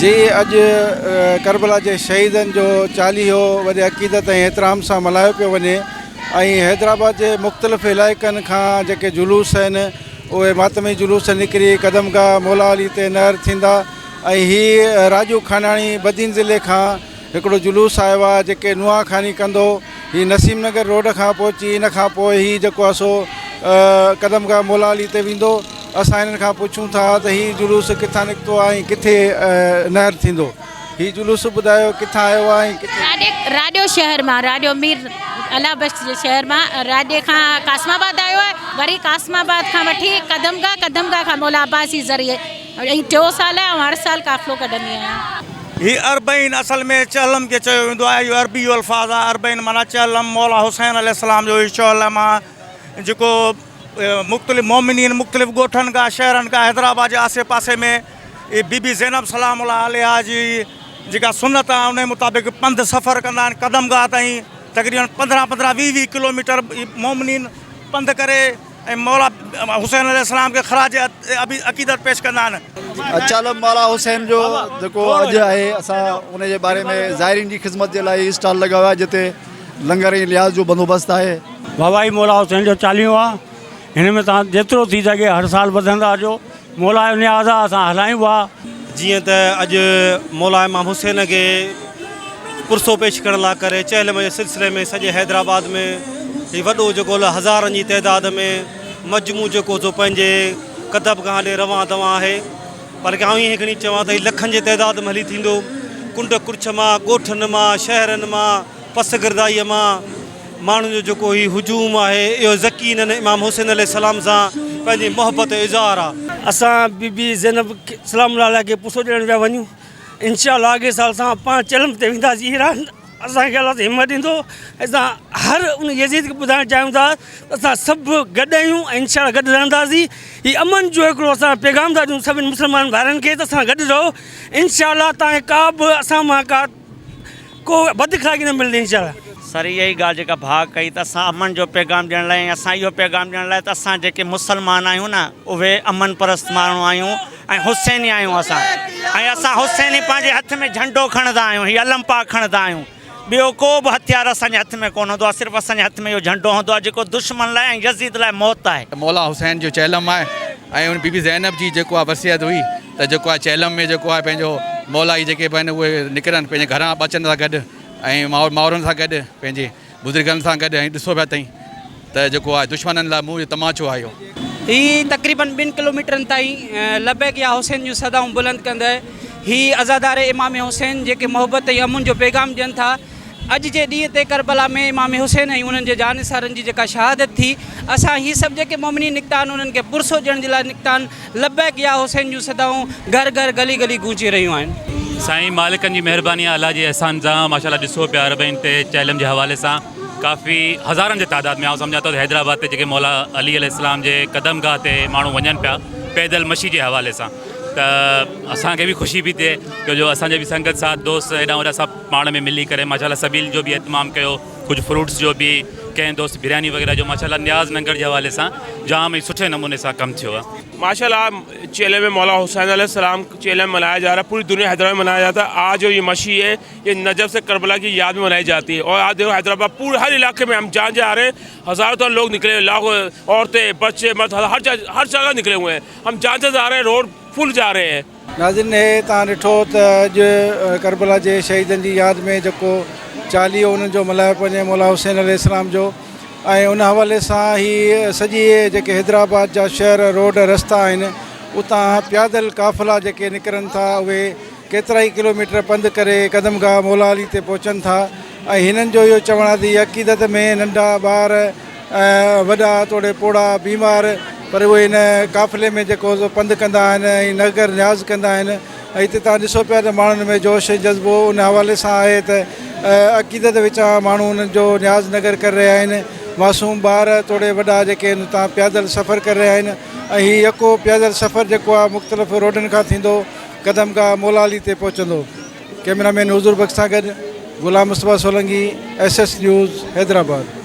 جي اڄ ڪربلا جي شهيدن جو چاليهو وڏي عقيدت ۽ احترام سان ملهايو پيو وڃي ۽ حيدرآباد جي مختلف علائقن کان جيڪي جلوس آهن اهي ماتمي جلوس نڪري قدم گاهه مولا علي تي نهر ٿيندا ۽ هي راڄو کاناڻي بدين ضلعي کان هڪڙو جلوس آيو آ جيڪي نوحا خاني ڪندو هي نسيم نگر روڊ کان پهچي ان کان پوء هي جيڪو آ سو قدم گاهه مولا علي تي ويندو اسان هنن کان پڇون ٿا ته هي جلوس ڪٿان نڪتو آ ۽ ڪٿي نهر ٿيندو هي جلوس ٻڌايو ڪٿان آيو آ ۽ ڪٿي راڄو شهر مان راڄو مير الله بخش جي شهر مان راڄي کان قاسم آباد آيو آ وري قاسم آباد کان وٺي قدم گاهه قدم گاهه کان مولا عباسي ذريعي هي ٽيون سال آهي، آئون هر سال قافلو ڪڍندي آهيان. هي اربعين اصل ۾ چهلم کي چيو ويندو آهي. اهو عربي الفاظ آهي. اربعين معنيٰ چهلم مولا حسين عليه السلام جو هي شعله مان جيڪو مختلف مؤمنين مختلف ڳوٺن کان شهرن کان حيدرآباد جي آسي پاسي ۾ اهي بي بي زينب سلام الله عليها جي جيڪا سنت آهي انهي مطابق پنڌ سفر ڪندا آهن قدمگاهه تائين تقريبن پندرهن پندرهن ويهه ويهه ڪلوميٽر مؤمنين پنڌ ڪري ۽ مولا حسين عليه السلام کي خراج عقيدت پيش ڪندا آهن. چالم مولا حسين جو جيڪو اڄ آهي اسان ان جي باري ۾ زائرين جي خدمت جي لاء هي اسٽال لڳايو آهي جتي لنگر ۽ لحاظ جو بندوبست آهي. ووائي مولا حسين جو چاليهو آهي هن ۾ توهان جيترو ٿي سگهي هر سال وڌندا اچو. مولا جو نياز آ اسان هلايون وا. جيئن ته اڄ مولا امام حسين کي پرسو پيش ڪرڻ لا ڪري چهلم جي سلسلي ۾ سڄي حيدرآباد ۾ هي وڏو جيڪو هزارن جي تعداد ۾ مجموع جيڪو سو پنهنجي ڪتبگاهن ڏي روان دوان آهي بلڪه آئون ائين کڻي چوان ته هي لکن جي تعداد ۾ هلي ٿيندو ڪنڊ ڪڙڇ مان ڳوٺن مان شهرن مان پسگردائيء مان ماڻهن جو جيڪو هي هجوم آهي، اهو يقينن امام حسين عليه السلام سان پنهنجي محبت جو اظهار آهي. اسان بي بي زينب سلام الله عليها کي پسو ڏيڻ پيا وڃون انشاء الله اڳئي سال سان پاڻ چلم تي وينداسين ايران اسان کي الله همت ڏيندو اسان هر ان يزيد کي ٻڌائڻ چاهيون ٿا اسان سڀ گڏ آهيون ۽ انشاء الله گڏ رهنداسين هي امن جو هڪڙو اسان پيغام ٿا ڏيون سڀني مسلمان ڀائرن کي ته اسان گڏ رهو انشاء الله تان کي ڪا به اسان مان ڪا ڪو وڌ کائي نه ملندي انشاء الله. سر اها ئي ڳالهه جيڪا ڀاء ڪئي ته اسان امن جو پيغام ڏيڻ لاء ۽ اسان اهو پيغام ڏيڻ لاء ته اسان جيڪي مسلمان آهيون نه اهي امن پرست ماڻهو آهيون ۽ حسيني آهيون اسان ۽ اسان حسيني پنهنجي هٿ ۾ جهنڊو کڻندا آهيون هي علم پاڪ کڻندا آهيون ٻيو ڪو به هٿيار اسان جي هٿ ۾ ڪونه هوندو آهي صرف اسان جي هٿ ۾ اهو جهنڊو هوندو آهي جيڪو دشمن لاء ۽ يزيد لاء موت آهي. مولا حسين جو چهلم آهي ۽ بيبي زينب جي جيڪو آهي وصيت هئي. ته جيڪو آهي چهلم ۾ جيڪو آهي پنهنجو مولا هي جيڪي به آهن اهي نڪرن پنهنجي گهران ٻچن سان گڏ ۽ ماء ماورن سان گڏ پنهنجي بزرگن سان گڏ ۽ ڏسو پيا تئين ته جيڪو آهي دشمنن لاء موهه جو تماچو آهي اهو. هي تقريبن ٻن ڪلوميٽرن تائين لبيڪ يا حسين جون صدائون بلند ڪندي هي عزادار امام حسين جيڪي محبت ۽ امن جو پيغام ڏين ٿا اڄ جي ڏينهن تي ڪربلا ۾ امام حسين ۽ انهن جي جانثارن جي جيڪا شهادت ٿي، اسان هي سڀ جيڪي مؤمنين نڪتا آهن، انهن کي پرسو ڏيڻ جي لاء نڪتا آهن. لبيڪ يا حسين جون صدائون گهر گهر، گلي گلي گونجي رهيون آهن. سائين مالڪن جي مهرباني آهي الله جي احسان سان ماشاء الله ڏسو پيا اربعين تي چهلم جي حوالي سان ڪافي هزارن جي تعداد ۾ آئون سمجهان ٿو ته حيدرآباد تي جيڪي مولا علي عليه السلام جي قدم گاهه تي ماڻهو وڃن پيا پيدل مشي جي حوالي سان ته اسان کي به خوشي پي ٿئي جو جو اسان جي به سنگت ساٿ دوست هيڏانهن هوڏانهن سڀ پاڻ ۾ ملي ڪري ماشاءالله سبيل جو به اهتمام ڪيو ڪجهه فروٽس جو به ڪنهن دوست برياني وغيره جو ماشاءالله نياز ننگر جي حوالي سان جام ئي سٺي نموني سان ڪم ٿيو آهي. ماشاءالله چيلم ۾ مولا حسين عليه السلام ڪا چيلم منايا جا رها پوري دنيا حيدرآباد ۾ منايا جاتا آج جو يي مشي هي يي نجف سي ڪربلا ڪي ياد ۾ منائي جاتي هي اور آج ديکو حيدرآباد پوري هر علاقي ۾ هم جهان جي آ رهي هين هزارو تان لوگ نڪلي هين لاکو عورتين بچي مرد هر جا هر جگه نڪلي هوئي هين هم جهان جهان جا رهي هين روڊ فل جا رهي هين. ناظرين هي توهان ڏٺو ته اڄ ڪربلا جي شهيدن جي ياد ۾ جيڪو چاليهو انهن جو ملهايو پئي وڃي مولا حسين عليه السلام جو ۽ ان حوالي سان هي سڄي جيڪي حيدرآباد جا شهر روڊ رستا آهن اتان پيادل قافلا جيڪي نڪرن ٿا اهي ڪيترائي ڪلوميٽر پنڌ ڪري قدم گاهه مولا علي تي پهچن ٿا ۽ هنن جو اهو چوڻ آهي ته هي عقيدت ۾ ننڍا ٻار وڏا توڙي پوڙها بيمار پر اهي هن قافلي ۾ جيڪو سو پنڌ ڪندا آهن ۽ نگر نياز ڪندا آهن ۽ هتي تان ڏسو پيا ته ماڻهن ۾ جوش ۽ جذبو ان حوالي سان آهي ته عقيدت وچان ماڻهو انهن جو نياز نگر ڪري رهيا آهن معصوم ٻار توڙي وڏا جيڪي هن تان پيادل سفر ڪري رهيا آهن ۽ هي يڪو پيادل سفر جيڪو آهي مختلف روڊن کان ٿيندو قدم گاهه مولا علي تي پهچندو ڪئميرا مين حضور بخش سان گڏ Ghulam Mustafa Solangi S S news Hyderabad